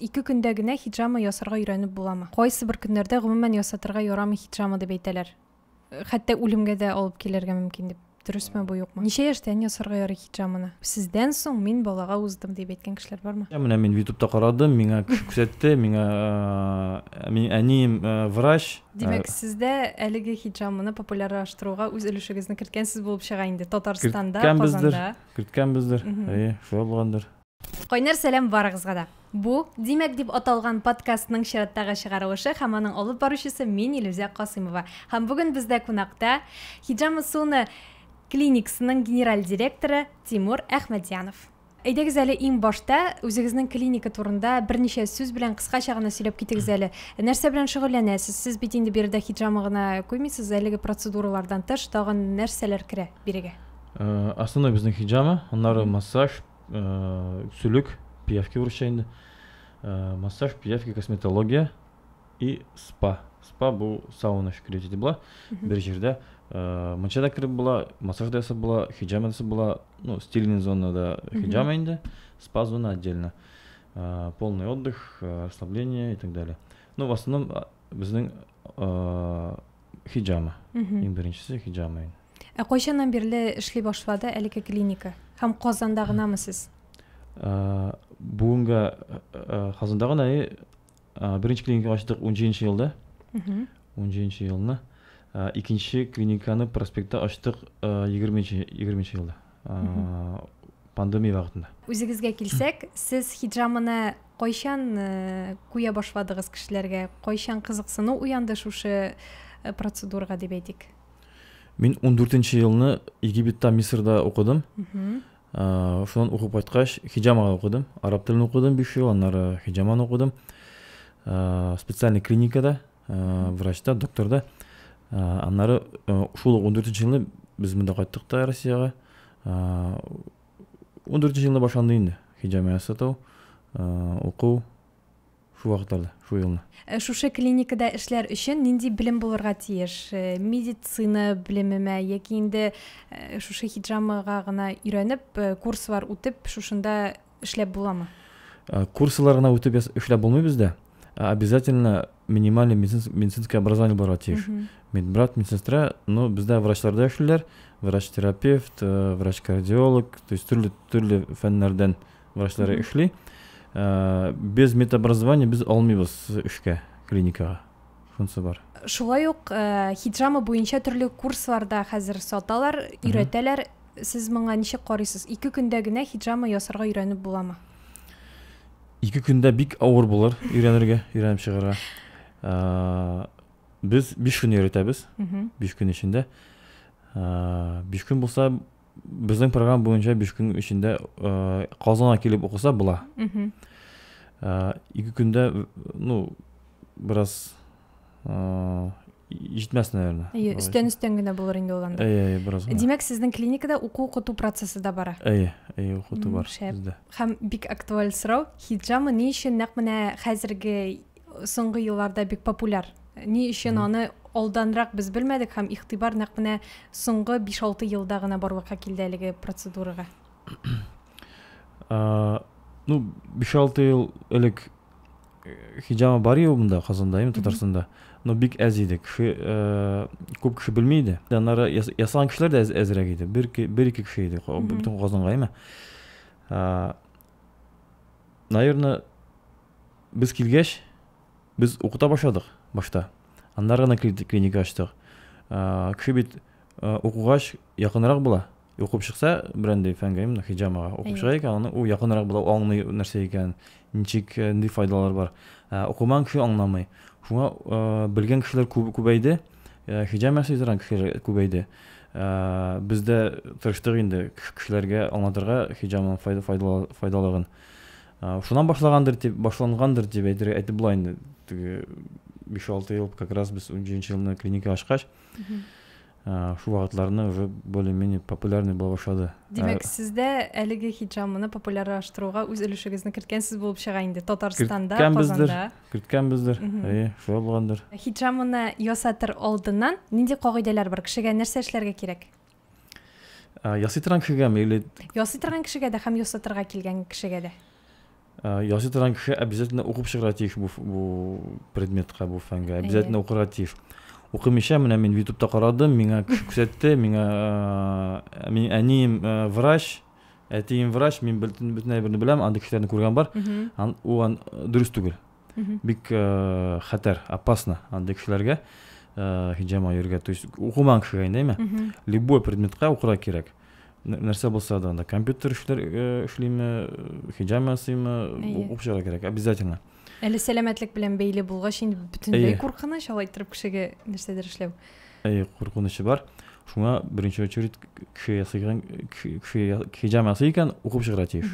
Ике көндә генә хиджама ясарга өйрәнеп буламы? Кайсыбер көннәрдә гомумән ясатырга ярамый хиджама дип әйтәләр. Хәтта үлемгә дә алып килергә мөмкин дип. Дөресме бу, юкмы? Ничә яшьтән ясарга ярый хиджаманы? Сездән соң мин балага уздым, дип әйткән кешеләр бармы? Менә мин ютубта карадым, миңа кеше күрсәтте, миңа минем әнием врач. Димәк, сез дә әлеге хиджаманы популярлаштыруга үз өлешегезне керткәнсез булып чыга инде. Татарстанда, Казанда. Керткәнбездер, керткәнбездер. Әйе, шулай булгандыр. Кайнар сәлам барыгызга да. Бу Димәк дип аталган подкастның чираттагы чыгарылышы һәм аның алып баручысы мин Илүзә Касыймова. Һәм бүген бездә кунакта Хиджама Суны клиниксының генераль директоры Тимур Әхмәдьянов. Әйдәгез әле иң башта үзегезнең клиника турында берничә сүз белән кыскача гына сөйләп китегез әле. Нәрсә белән шөгыльләнәсез? Сез бит инде биредә хиджама гына куймыйсыз, әлеге процедуралардан тыш тагын нәрсәләр керә бирегә? Э, Основной безнең хиджама, аннары массаж, Э, сүлек, пиявки урысча инде. Э, массаж, пиявки, косметология и спа. Спа бу сауна шикелле җитеп була. Бер җирдә э, мунча да кереп була, массаж да ясап була, хиджама ясап була. Ну, стильный зона да хиджама инде, спа зона отдельно. Э, полный отдых, э, расслабление и так далее. Ну, в основном а, безнең э, хиджама. Мгм. Иң беренчесе хиджама. инде. Ә кайчаннан бирле эшли башлады әлеге клиника? Һәм Казанда гынамы сез? Э, бүгенге э, э, Казанда гына беренче клиника ачтык 17 елда. 17 елны. Икенче клиниканы проспектта ачтык 20 20 елда. Пандемия вакытында. Үзегезгә килсәк, сез хиджаманы кайчан куя башладыгыз кешеләргә? Кайчан кызыксыну уянды шушы процедурага дип әйтик? Мин 14 нче елны Египетта, Мисырда укыдым. Э, шуннан укып кайткач, хиджамага укыдым. Араб телен укыдым 5 ел, аннары хиджаманы укыдым. Э, специальный клиникада, э, врачта, докторда. Аннары шул 14 нче елны без монда кайттык та Россиягә. 14 нче елны башланды инде хиджама ясату, уку. Шул вакыт алды, шул елны. Ә шушы клиникада эшләр өчен нинди белем булырга тиеш? Медицина белемеме яки инде шушы хиджамага гына өйрәнеп, курслар үтеп, шушында эшләп буламы? Курслар гына үтеп эшләп булмый бездә. Обязательно минимальный медицинское образование булырга тиеш. Медбрат, медсестра, ну бездә врачларда эшлиләр, врач-терапевт, врач-кардиолог, то есть төрле төрле фәннәрдән врачлары эшли э, без медобразование без алмыйбыз эшкә клиникага шунысы бар шулай ук э, хиджама буенча төрле курсларда хәзер саталар өйрәтәләр сез моңа ничек карыйсыз ике көндә генә хиджама ясарга өйрәнеп буламы ике көндә бик авыр булыр өйрәнергә өйрәнеп чыгарга э, без биш көн өйрәтәбез биш көн эчендә биш көн булса Безнең программа буенча биш көн эчендә Казанга килеп укыса була. Ике көндә, ну, бераз җитмәс, наверное. Әйе, өстән өстән генә булыр инде ул анда. Әйе, әйе, бераз гына. Димәк, сезнең клиникада уку укыту процессы да бара. Әйе, әйе, укыту бар бездә. Һәм бик актуаль сорау, хиджама ни өчен нәкъ менә хәзерге соңгы елларда бик популяр. Ни өчен аны алданрак без белмәдек һәм игътибар нәкъ менә соңгы 5-6 елда гына барлыкка килде әлеге процедурага. ну, 5-6 ел элек э, хиҗама бар иде монда Казанда, ем Татарстанда. Но бик әз иде. Кеше э, күп кеше белми иде. Аннары ясаган кешеләр дә әзрәк иде. Бер бер ике кеше иде бөтен Казанга, яме. Наверное, Без килгәч, без укыта башладык башта. Аннары гына клиника ачтык. Кеше бит укугач якынрак була. Укып чыкса, бренди фәнгә, именно хиджамага укып чыга икән, аны ул якынрак була, аңлый нәрсә икән, ничек, нинди файдалар бар. Укымаган кеше аңламый. Шуңа белгән кешеләр күбәйде, хиджам ясый торган кешеләр күбәйде. Без дә тырыштык инде кешеләргә аңлатырга хиджамның файдалыгын. Шуннан башлагандыр дип, башлангандыр дип әйтергә әйтеп була инде. Теге 5-6 ел как раз без 17 елны клиника ачкач, шул вакытларны уже более-менее популярный була башлады. Димәк, сез дә әлеге хиджамны популярлаштыруга үз өлешегезне керткәнсез булып чыга инде Татарстанда, Казанда. Керткәнбездер. Әйе, шулай булгандыр. Хиджамны ясатыр алдыннан нинди кагыйдәләр бар? Кешегә нәрсә эшләргә кирәк? Ясый торган кешегәме или Ясый торган кешегә дә һәм ясатырга килгән кешегә дә. Ясый торган кеше обязательно укып чыгыра тиеш бу бу предметка, бу фәнгә. Обязательно укырга тиеш. Укымыйча менә мин YouTube-та карадым, миңа күрсәтте, миңа мин әнием врач, әтием врач, мин бөтен бөтен әйберне беләм, андый кешеләрне күргән бар. Ул дөрес түгел. бик э, хәтәр опасно андый кешеләргә э, хиджама йөрергә то есть укымаган кешегә инде әйме любой предметка укырга кирәк нәрсә булса да анда компьютер эшләр э, эшлиме хиджама ясыймы укып чыгарга кирәк обязательно әле сәламәтлек белән бәйле булгач инде бөтенләй куркыныч алай торып кешегә нәрсәдер эшләү әйе куркынычы бар шуңа беренче очередь кеше ясыйган кеше хиджама ясый икән укып чыгарга тиеш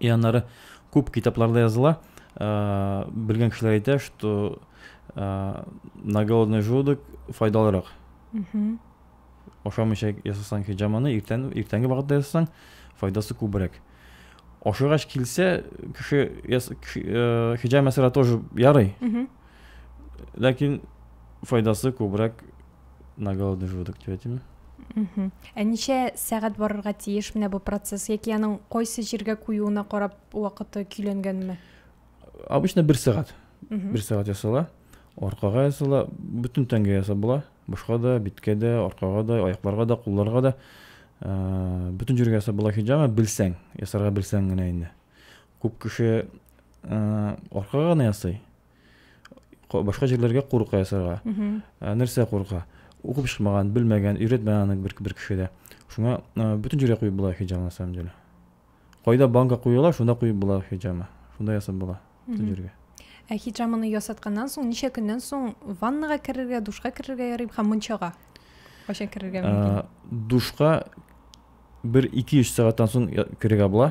И аннары күп китапларда языла, белгән кешеләр әйтә, что на голодный желудок файдалырак. Ашамыйча ясасаң хиджаманы, иртән, иртәнге вакытта ясасаң, файдасы күбрәк. Ашыгач килсә, кеше, яс, кеше э, хиджам ясара тоже ярый. Ләкин файдасы күбрәк на голодный желудок дип әйтим. Ә ничә сәгать барырга тиеш менә бу процесс яки аның кайсы җиргә куюына карап вакыты көйләнгәнме? Обычно бер сәгать. Бер сәгать ясала. Аркага ясала, бөтен тәнгә ясап була. Башка да, биткә дә, аркага да, аякларга да, кулларга да. Ә, бөтен җиргә ясап була хиҗама, белсәң, ясарга белсәң генә инде. Күп кеше ә, аркага гына ясый. башка җирләргә курка ясарга ә, нәрсә курка укып чыкмаган белмәгән өйрәтмәгән аны бер, бер кеше дә шуңа ә, бөтен җиргә куеп була хиҗаб на самом деле кайда банка куела шунда куеп була хиҗабны шунда ясап була бөтен җиргә ә хиҗабны ясатканнан соң ничә көннән соң ваннага керергә душка керергә ярый һәм мунчага кайчан керергә мөмкин душка бер ике өч сәгатьтән соң керергә була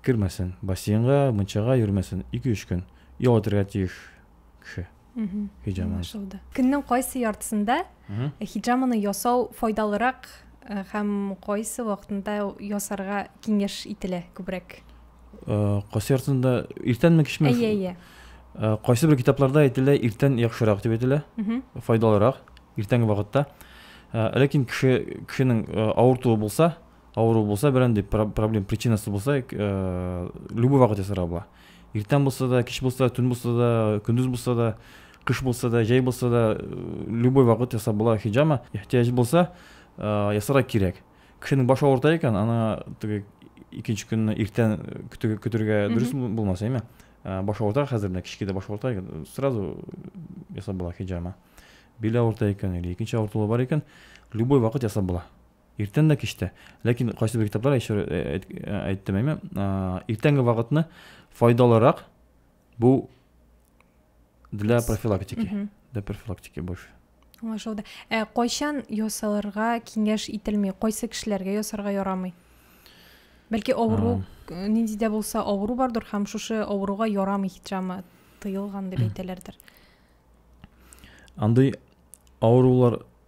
Кермәсен, бассейнга, мунчага йөрмәсен, ике-өч көн ял итәргә тиеш кеше хиджаманы. Аңлашылды. Көннең кайсы яртысында хиджаманы ясау файдалырак һәм кайсы вакытында ясарга киңәш ителә күбрәк? Кайсы яртысында иртәнме, кичме? Әйе, әйе. Кайсы бер китапларда әйтелә, иртән яхшырак дип әйтелә, файдалырак, иртәнге вакытта. Ләкин кеше кешенең авыртуы булса, авыру булса берәндәй проблем причинасы булса э, любой вакыт ясарга була иртән булса да кич булса да төн булса да көндез булса да кыш булса да җәй булса да э, любой вакыт ясап була хиджама ихтияҗ булса э, ясарга кирәк кешенең башы авырта икән аны теге икенче көнне иртән көтергә дөрес булмас әйме баш авырта хәзер менә кичке дә баш авырта икән сразу ясап була хиджама бил авырта икән или икенче авыртулар бар икән любой вакыт ясап була Иртән дә кич тә. Ләкин кайсы бер китаплар әйшер әйттем әйме, иртәнге вакытны файдалырак бу для профилактики. Для профилактики больше. Аңлашылды. Ә кайчан ясалырга киңәш ителми? Кайсы кешеләргә ясарга ярамый? Бәлки авыру нинди дә булса авыру бардыр һәм шушы авыруга ярамый хиджама тыелган дип әйтәләрдер. Андый авырулар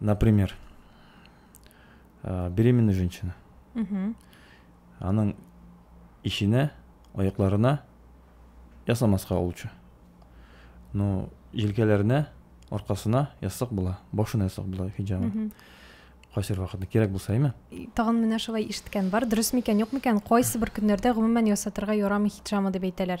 Например, э, беременная женщина. Угу. Аның ишенә, аякларына ясамаска лучше. Но җилкәләренә, аркасына ясак була, башына ясак була хиҗабы. Угу. Кайсы вакытта кирәк булса, әйме? Тагын менә шулай ишеткән бар. Дөрес микән, юк микән? Кайсы бер көннәрдә гомумән ясатырга ярамый хиджамы дип әйтәләр.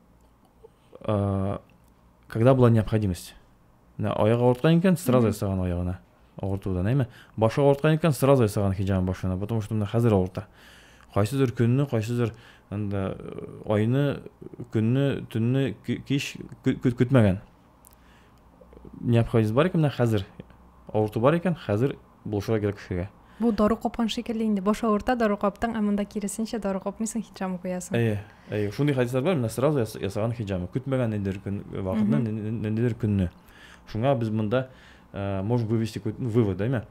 ә, когда была необходимость мына аяк ауырткан икән сразу ясаган аягына авыртудан әйме башы ауырткан икән сразу ясаган хиджабын башына потому что мына хәзер авырта кайсыдыр көнне кайсыдыр анда э, айны көнне төнне кич көтмәгән необходимость бар икән менә хәзер авырту бар икән хәзер булышырга кирәк кешегә бу дару капкан шикелле инде баш авырта дару каптың ә монда киресенчә дару капмыйсың хиджама куясың әйе әйе шундый хәдисләр бар менә сразу ясаган хиджама көтмәгән ниндидер көн вакытны ниндидер көнне шуңа без монда э, можем вывести какой-то ну, вывод да имя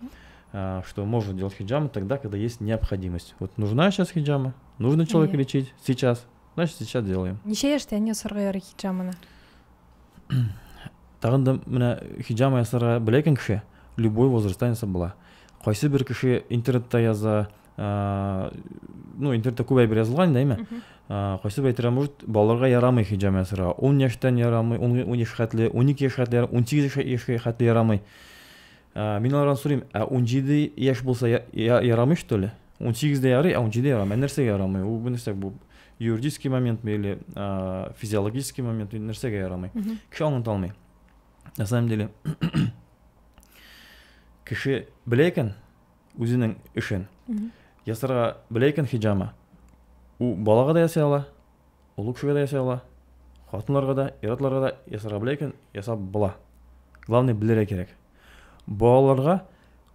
э, что можно делать хиджаму тогда когда есть необходимость вот нужна сейчас хиджама нужно человека лечить сейчас значит сейчас делаем ничего яшьтән ясарга ярый хиджаманы Тагын да менә хиджама ясарга белә икән кеше, любой возрастьтан ясап була. Кайсы бер кеше интернетта яза, ә, ну, интернетта күп әйбер язылган инде, әйме? Кайсы бер әйтергә может, балаларга ярамый хиджама ясарга. 10 яшьтән ярамый, 10 яшь хәтле, 12 яшь хәтле, 18 яшь хәтле ярамый. Ә, мин алардан сорыйм, ә унҗиде яшь булса я, я, ярамый что ли? Унсигездә ярый, ә унҗиде ярамый. Ә нәрсәгә ярамый? Ул бу нәрсә бу? Юридический моментмы или ә, физиологический момент нәрсәгә ярамый? Кеше аңлата алмый. На самом деле, кеше белә икән үзенең эшен. Ясарга белә икән хиҗама. Ул балага да ясый ала, Ул үк кешегә дә ясый ала. Хатыннарга да, ир-атларга да ясарга белә икән, ясап була. Главное, белергә кирәк. Балаларга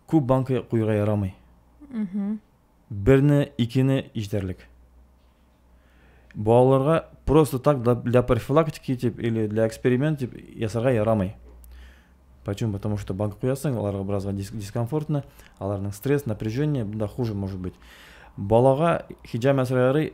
күп банка куярга ярамый. Берне, икене җитәрлек. Балаларга просто так для профилактики дип или для эксперимент дип ясарга ярамый. Почему? Потому что банка куясың, аларга бераз дискомфортно, аларның стресс, напряжение, бунда хуже может быть. Балага хиджама сырары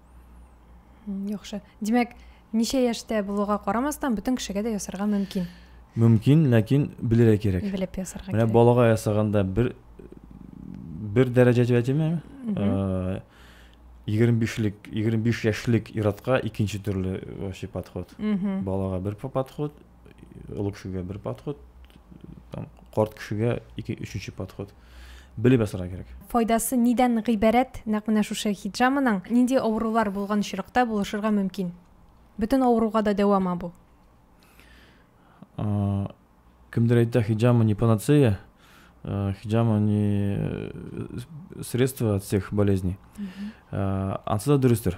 Яхшы. Димәк, ничә яшьтә булуга карамастан, бөтен кешегә дә ясарга мөмкин. Мөмкин, ләкин белергә кирәк. Белеп ясарга кирәк. Менә балага ясаганда бер бер дәрәҗә дип әйтәме? 25-лек, 25 яшьлек иратка икенче төрле вообще подход. Балага бер подход, олы кешегә бер подход там карт кешегә ике өченче подход белеп ясарга кирәк файдасы нидән гыйбарәт нәкъ менә шушы хиджаманың нинди авырулар булган очракта булышырга мөмкин бөтен авыруга да дәвама бу кемдер әйтә хиджама не панацея Э, хиджама не э, средство от всех болезней э, ансы да дөрестер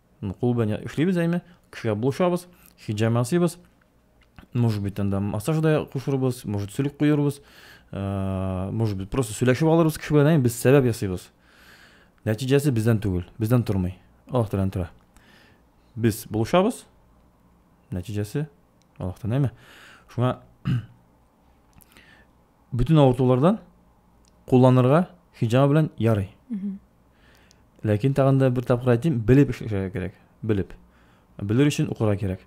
Кул белән эшлибез әйме, кешегә булышабыз, хиджам ясыйбыз. Может быть, анда массаж да кушырбыз, может, сүлек куербыз, может быть, просто сөйләшеп алырбыз кеше белән, әйме, без сәбәп ясыйбыз. Нәтиҗәсе бездән түгел, бездән тормый. Аллаһ Тәгаләдән тора. Без булышабыз, нәтиҗәсе Аллаһтан, әйме? Шуңа Бөтен авыртулардан кулланырга хиджама белән ярый. Ләкин тагын да бер тапкыр әйтим, белеп эшләргә кирәк. Белеп. Белер өчен укырга кирәк.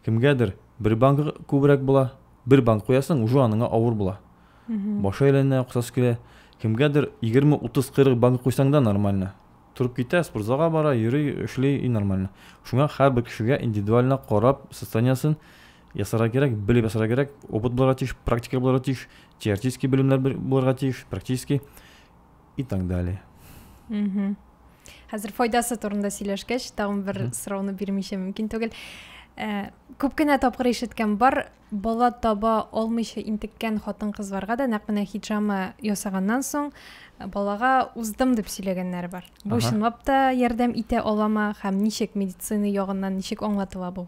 Кемгәдер бер банка күбрәк була, бер банк куясың, уже аныңа авыр була. Башы әйләнә, кусасы килә. Кемгәдер 20, 30, 40 банк куйсаң да нормально. Торып китә, спортзалга бара, йөри, эшли и нормально. Шуңа һәрбер кешегә индивидуально карап, состояниесен ясарга кирәк, белеп ясарга кирәк, опыт булырга тиеш, практика булырга тиеш, теоретический белемнәр булырга тиеш, практический и так далее. Угу. Хәзер файдасы турында сөйләшкәч, тагын бер сорауны бирмичә мөмкин түгел. Э, күп кенә тапкыр ишеткән бар, бала таба алмыйча интеккән хатын-кызларга да нәкъ менә хиджама ясаганнан соң э, балага уздым дип сөйләгәннәр бар. Бу чынлап та ярдәм итә алама һәм ничек медицина ягыннан ничек аңлатыла бу?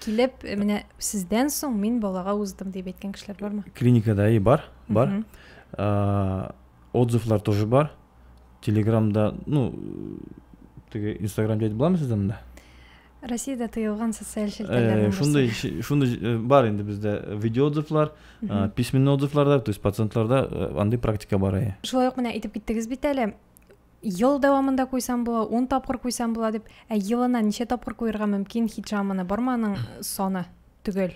килеп э, менә сездән соң мин балага уздым дип әйткән кешеләр бармы клиникада и бар бар отзывлар тоже бар телеграмда ну теге инстаграм дәйтеп буламы сездә монда россияда тыелган социаль челтәрләрнең шундай шундай бар инде бездә видео отзывлар письменный отзывларда то есть пациентларда андый практика бар әйе шулай ук менә әйтеп киттегез бит әле ел дәвамында куйсам була, ун тапкыр куйсам була дип, ә елына ничә тапкыр куерга мөмкин хиджаманы? Бармы аның саны төгәл?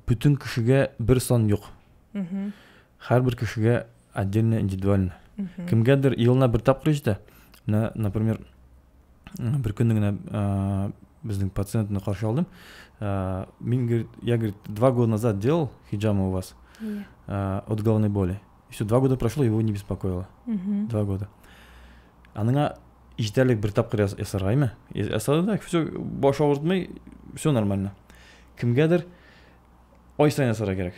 Бөтен кешегә бер сан юк. Һәрбер кешегә отдельно, индивидуально. Кемгәдер елына бер тапкыр җитә. Менә, например, бер көнне генә безнең пациентны каршы алдым. Мин, говорит, я, говорит, два года назад делал хиджамы у вас от головной боли. И все, два года прошло, его не беспокоило. Угу. Два года. Аныңа ишетәлек бер тапкыр ясаргаймы? Ясады да, все, баш авыртмый, все нормально. Кемгәдер ай сайын ясарга кирәк.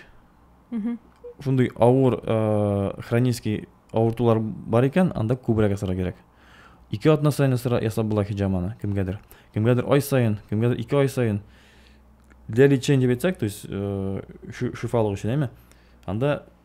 Угу. Шундый авыр, э, хронический авыртулар бар икән, анда күбрәк ясарга кирәк. Ике атна сайын ясап була хиҗаманы кемгәдер. Кемгәдер ай сайын, кемгәдер ике ай сайын. Для лечения бетсәк, то есть э, шифалык өчен, әйме? Анда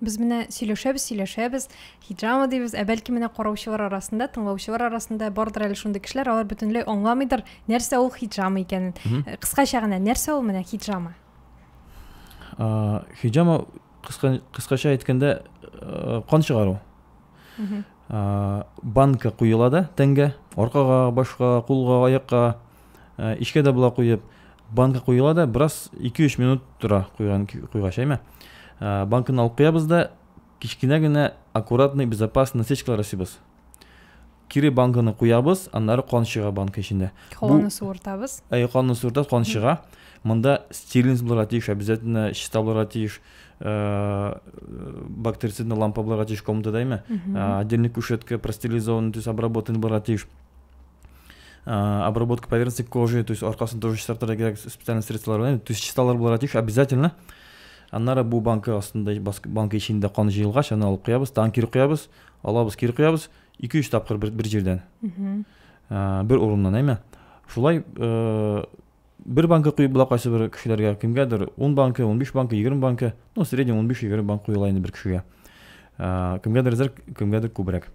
Без менә сөйләшәбез, сөйләшәбез, хиджама дибез, ә бәлки менә караучылар арасында, тыңлаучылар арасында бардыр әле шундый кешеләр, алар бөтенләй аңламыйдыр, нәрсә ул хиджама икәнен. Э, кыскача гына, нәрсә ул менә хиджама? Хиджама кыскача әйткәндә э, кан чыгару. Банка куела да тәнгә, аркага, башка, кулга, аякка, ә, эчкә дә була куеп, банка куела да, бераз 2-3 минут тора куйган куйгач, әйме. Ә, банканы алып куябыз да, кечкенә генә аккуратный, безопасный насечкалар ясыйбыз. Кире банканы куябыз, аннары кан чыга банка эчендә. Канны суыртабыз. Әй, канны суыртабыз, кан чыга. Монда стерильность булырга тиеш, обязательно чиста булырга тиеш. Э, бактерицидный лампа булырга тиеш комната дәйме отдельный кушетка простерилизованный то есть обработанный булырга тиеш А, обработка поверхности кожи, то есть аркасын тоже чистартырга кирәк специальный средстволар белән, то есть чисталар булырга тиеш обязательно. Аннары бу банка астында, банка эчендә кан җыелгач, аны алып куябыз, тагын кире куябыз, алабыз, кире куябыз, 2-3 тапкыр бер, бер җирдән. А, бер урыннан, әйме? Шулай э, бер банка куеп була кайсы бер кешеләргә, кемгәдер 10 банка, 15 банка, 20 банка, ну, в среднем 15-20 банка куела инде бер кешегә. А, кемгәдер зәр, кемгәдер күбрәк.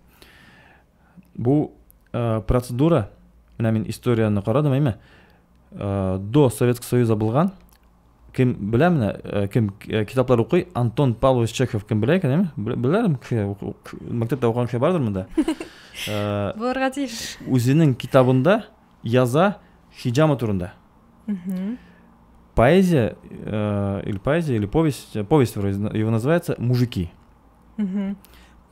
Бу э, процедура, менә мин историяне карадым, әйме? Э, до Советского Союза булган, кем белә менә, э, кем э, китаплар укый, Антон Павлович Чехов кем белә икән, әйме? Беләләрме? Мәктәптә укыган кеше бардыр монда? Э, Булырга тиеш. Үзенең китабында яза хиджама турында. Поэзия, э, или поэзия, или повесть, повесть его называется «Мужики».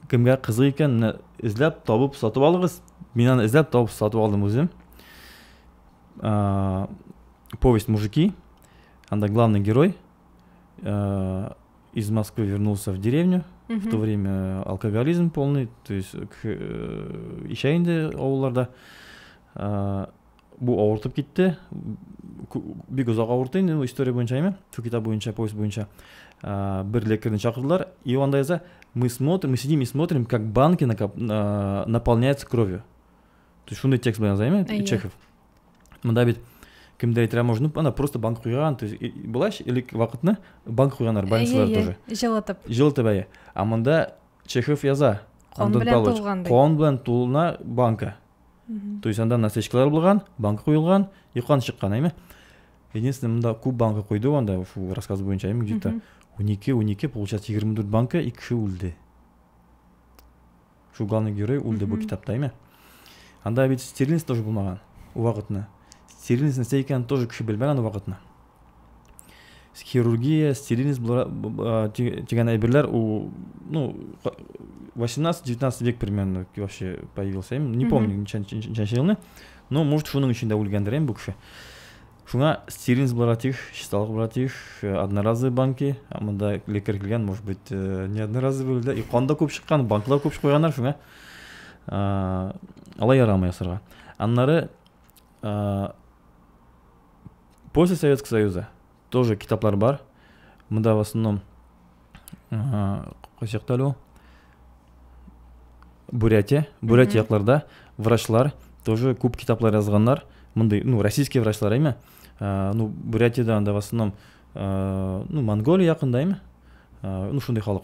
кемгә кызык икән менә эзләп табып сатып алыгыз мин аны эзләп табып сатып алдым үзем ә, повесть мужики анда главный герой ә, из Москвы вернулся в деревню mm в то время алкоголизм полный то есть э, ишә инде авылларда ә, Бу авыртып китте. Бик озак авырты инде, история буенча әйме? Шу китап буенча, повесть буенча. Бер лекарьны чакырдылар, и он яза, мы смотрим, мы сидим и смотрим, как банки наполняются кровью. То есть шундый текст белән яза әйме? Чехов. Мында бит кемдер әйтер можно ана просто банк куйган то есть былайча элек вакытны банк куйганнар больницалар тоже жылытып жылытып әйе а монда чехов яза кон белән тулган кон белән тулына банка То есть анда насечкалар булган, банка куелган, йокан чыккан, әйме? Единственное, монда күп банка куйды, анда шул рассказ буенча, әйме, где-то 12, 12, получается 24 банка, и кеше үлде. Шул главный герой үлде бу китапта, әйме? Анда бит стерильность тоже булмаган, вакытны. Стерильность нәрсә икәнен тоже кеше белмәгән вакытны. хирургия, стерильность дигән әйберләр ул ну 18-19 век примерно вообще появился. Я не помню ничәнче елны, но может шуның өчен дә үлгәндер инде бу кеше. Шуңа стерильность буларга тиеш, чисталык буларга тиеш, э, одноразовый банки, монда лекарь килгән, может быть, э, не одноразовый да, и кан да күп чыккан, банклар күп куйганнар шуңа. Алай ярамый ясарга. Аннары После Советского Союза тоже китаплар бар. Монда в основном кайсы якта әле ул? Бурятия, Бурятия якларда врачлар тоже күп китаплар язганнар. Мондый, ну, российский врачлар әйме. Ну, Бурятияда анда в основном ну, Монголия якында әйме. Ну, шундый халык.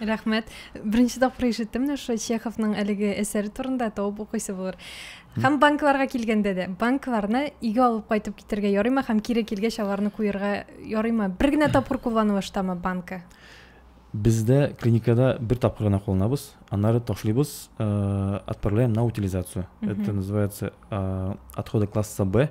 рәхмәт беренче тапкыр ишеттем менә шушы чеховның әлеге әсәре турында табып укыйсы булыр һәм банкларга килгәндә дә банкларны өйгә алып кайтып китергә ярыймы һәм кире килгәч аларны куерга ярыймы бер генә тапкыр кулланылыштамы банка бездә клиникада бер тапкыр гына кулланабыз аннары ташлыйбыз э, отправляем на утилизацию это называется э, отходы класса б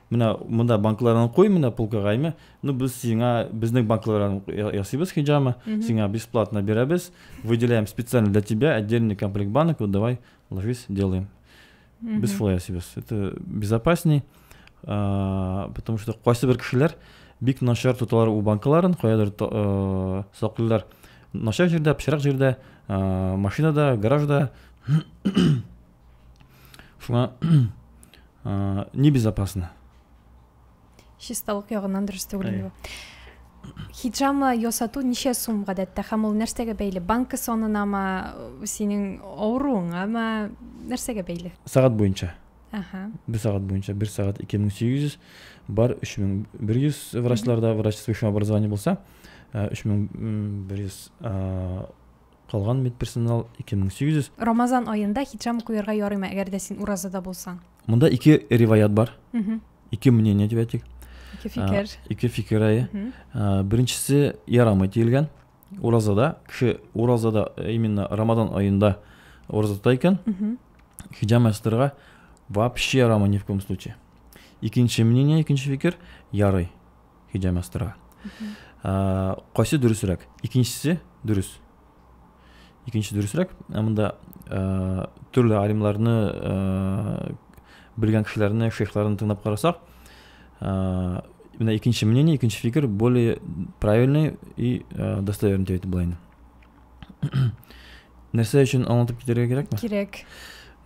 Менә монда банкларны куй, менә полкага име. Ну без сиңа безнең банкларны ясыйбыз хиджама, сиңа бесплатно бирәбез. Выделяем специально для тебя отдельный комплект банок, вот давай ложись, делаем. Без шулай ясыйбыз. Это безопасней, потому что кайсы бер кешеләр бик начар тоталар у банкларын, каядыр э, саклыйлар. Начар җирдә, пычрак җирдә, э, машинада, гаражда. шуңа небезопасно чисталык ягыннан дөрес түгел инде хиджама ясату ничә сум гадәттә һәм ул нәрсәгә бәйле банка санынамы синең авыруыңамы нәрсәгә бәйле сәгать буенча ага бер сәгать буенча бер сәгать ике мең сигез йөз бар өч мең бер йөз врачларда врач с высшим образованием булса үч мең бер йөз Калган медперсонал, 2800. Рамазан аенда хиджам укуерга ярыймы, әгәр дә син уразада булсаң? Монда ике риваят бар. Ике мнение дип әйтик. Ике фикер. Ике фикер, әйе. Беренчесе ярамый диелгән. Уразада, кеше уразада именно Рамазан аенда ураза тота икән, хиджам ясатырга вообще ярамый ни в коем случае. Икенче мнение, икенче фикер, ярый. Хиджа мастерга. Ә, кайсы дөресрәк? Икенчесе дөрес. Икенче дөресрәк. Ә монда ә, төрле алимларны ә, белгән кешеләрне, шейхларны тыңлап карасак, ә, менә икенче мнение, икенче фикер более правильный и ә, достоверный дип әйтеп була Нәрсә өчен аңлатып китерергә кирәкме? Кирәк.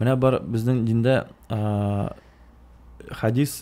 Менә бар безнең диндә ә, хадис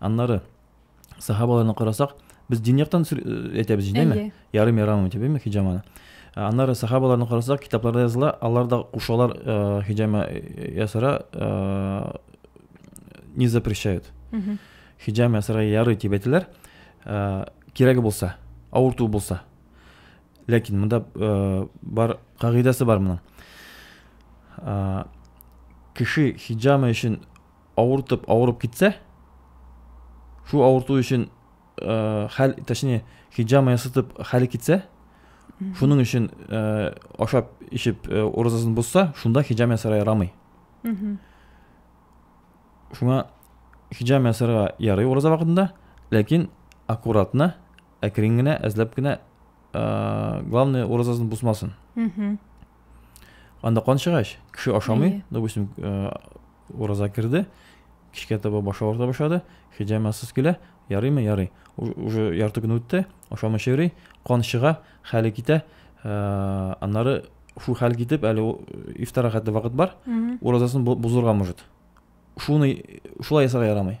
Аннары сахабаларны карасак, без дин яктан э, әйтәбез җинде ме? Ярым ярам дип әйтәбезме хиҗаманы? Аннары сахабаларны карасак, китапларда языла, алар да кушалар э, хиҗама э, ясара не запрещают. Хиҗама ясара ярый дип әйтәләр. Кирәге булса, авырту булса. Ләкин монда бар кагыйдәсе бар моның. Кеше хиҗама өчен авыртып авырып китсә, шул авырту өчен э, хәл, точнее, хиджама ясатып хәл китсә, шуның өчен э, ашап ишеп э, уразасын бозса, шунда хиджам ясарга ярамый. Шуңа хиджам ясарга ярый ураза вакытында, ләкин аккуратно, әкрен генә, әзләп кенә, э, главное уразасын бозмасын. Анда кан чыгач, кеше ашамый, Әйе. допустим, э, ураза керде, кичкә таба башы авырта башлады, хиҗамасыз килә, ярыймы, ярый. Уж- Уже ярты көн үтте, ашамыйча йөри, кан чыга, хәле китә. Э, Аннары шул хәл китеп, әле ул, э, ифтарга хәтле вакыт бар, Мгм. уразасын бу- бозырга может. Шуны шулай ясарга ярамый.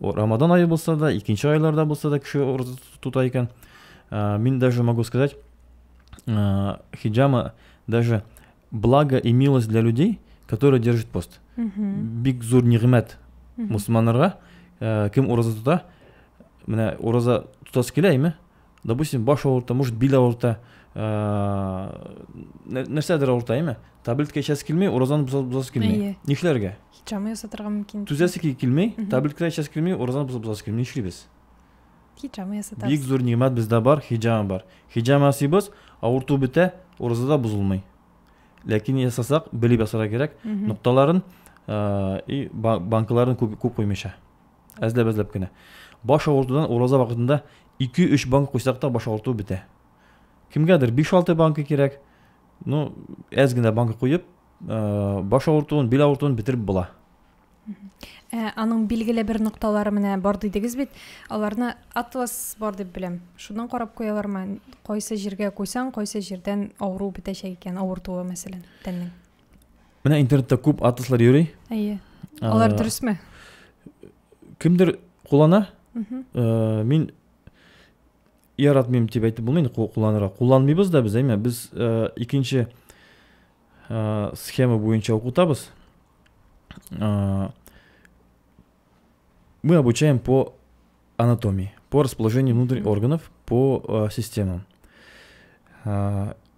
Рамадан айы булса да, икенче айларда булса да кеше ураза тота икән. Ә, мин даже могу сказать, ә, хиджама даже благо и милость для людей, которые держат пост. Бик зур нигъмәт мусульманнарга, ә, кем ураза тота, менә ураза тотасы килә име, допустим баш авырта может бил авырта нәрсәдер авырта әйме таблетка эчәсе килми уразаны бозасы килми нишләргә һичама ясатырга мөмкин түзәсе килми таблетка эчәсе килми уразаны бозасы килми нишлибез хиджама ясатабыз бик зур нимәт бездә бар хиджама бар хиджама ясыйбыз авырту бетә ураза да бозылмый ләкин ясасак белеп ясарга кирәк нокталарын и банкаларын күп куймыйча Әзләп-әзләп кенә. Баш авыртудан ураза вакытында 2-3 банк куйсак та баш авырту бетә. Кемгәдер 5-6 банка кирәк. Ну, әз генә банка куеп, э, баш авыртуын, бил авыртуын бетереп була. Ә, аның билгеле бер нокталары менә бар дидегез бит. Аларны атлас бар дип беләм. Шуннан карап куялармы? Кайсы җиргә куйсаң, кайсы җирдән авыру бетәчәк икән, авыртуы мәсәлән, тәннең. Менә интернетта күп атласлар йөри. Әйе. Алар дөресме? Кемдер куллана? Э, мин яратмыйм дип әйтеп булмый инде кулланырга. Кулланмыйбыз да без, әйме? Без э, икенче э, схема буенча укытабыз. Мы обучаем по анатомии, по расположению внутренних органов, по системам.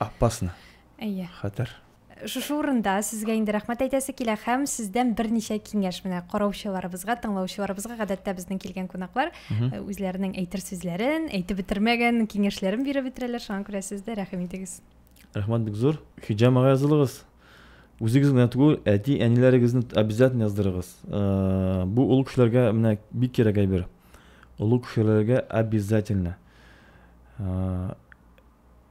Аппасны. Әйе. Хәтер. Шушы урында сезгә инде рәхмәт әйтәсе килә һәм сездән берничә киңәш менә караучыларыбызга, тыңлаучыларыбызга гадәттә безнең килгән кунаклар э, үзләренең әйтер сүзләрен, әйтеп бетермәгән киңәшләрен биреп бетерәләр, шуңа күрә сез дә рәхим итегез. Рәхмәт бик зур. Хиҗам ага язылыгыз. Үзегез генә түгел, әти, әниләрегезне обязательно яздырыгыз. Э, бу олы кешеләргә менә бик кирәк әйбер. Олы кешеләргә обязательно. Э,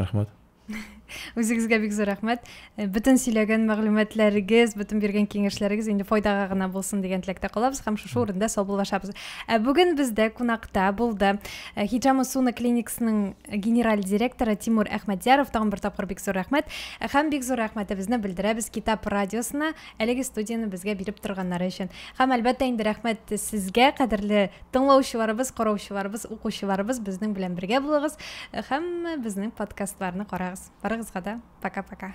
рәхмәт үзегезгә бик зур рәхмәт э, бөтен сөйләгән мәгълүматларыгыз бөтен биргән киңәшләрегез инде файдага гына булсын дигән теләктә калабыз һәм шушы урында саубуллашабыз ә бүген бездә кунакта булды э, хиджама суна клиниксының генераль директоры тимур әхмәдьяров тагын бер тапкыр бик зур рәхмәт э, һәм бик зур рәхмәтебезне белдерәбез китап радиосына әлеге студияне безгә биреп торганнары өчен һәм әлбәттә инде рәхмәт сезгә кадерле Тыңлаучыларыбыз, караучыларыбыз, укучыларыбыз безнең белән бергә булыгыз һәм безнең подкастларны карагыз. Барыгызга да пока-пока.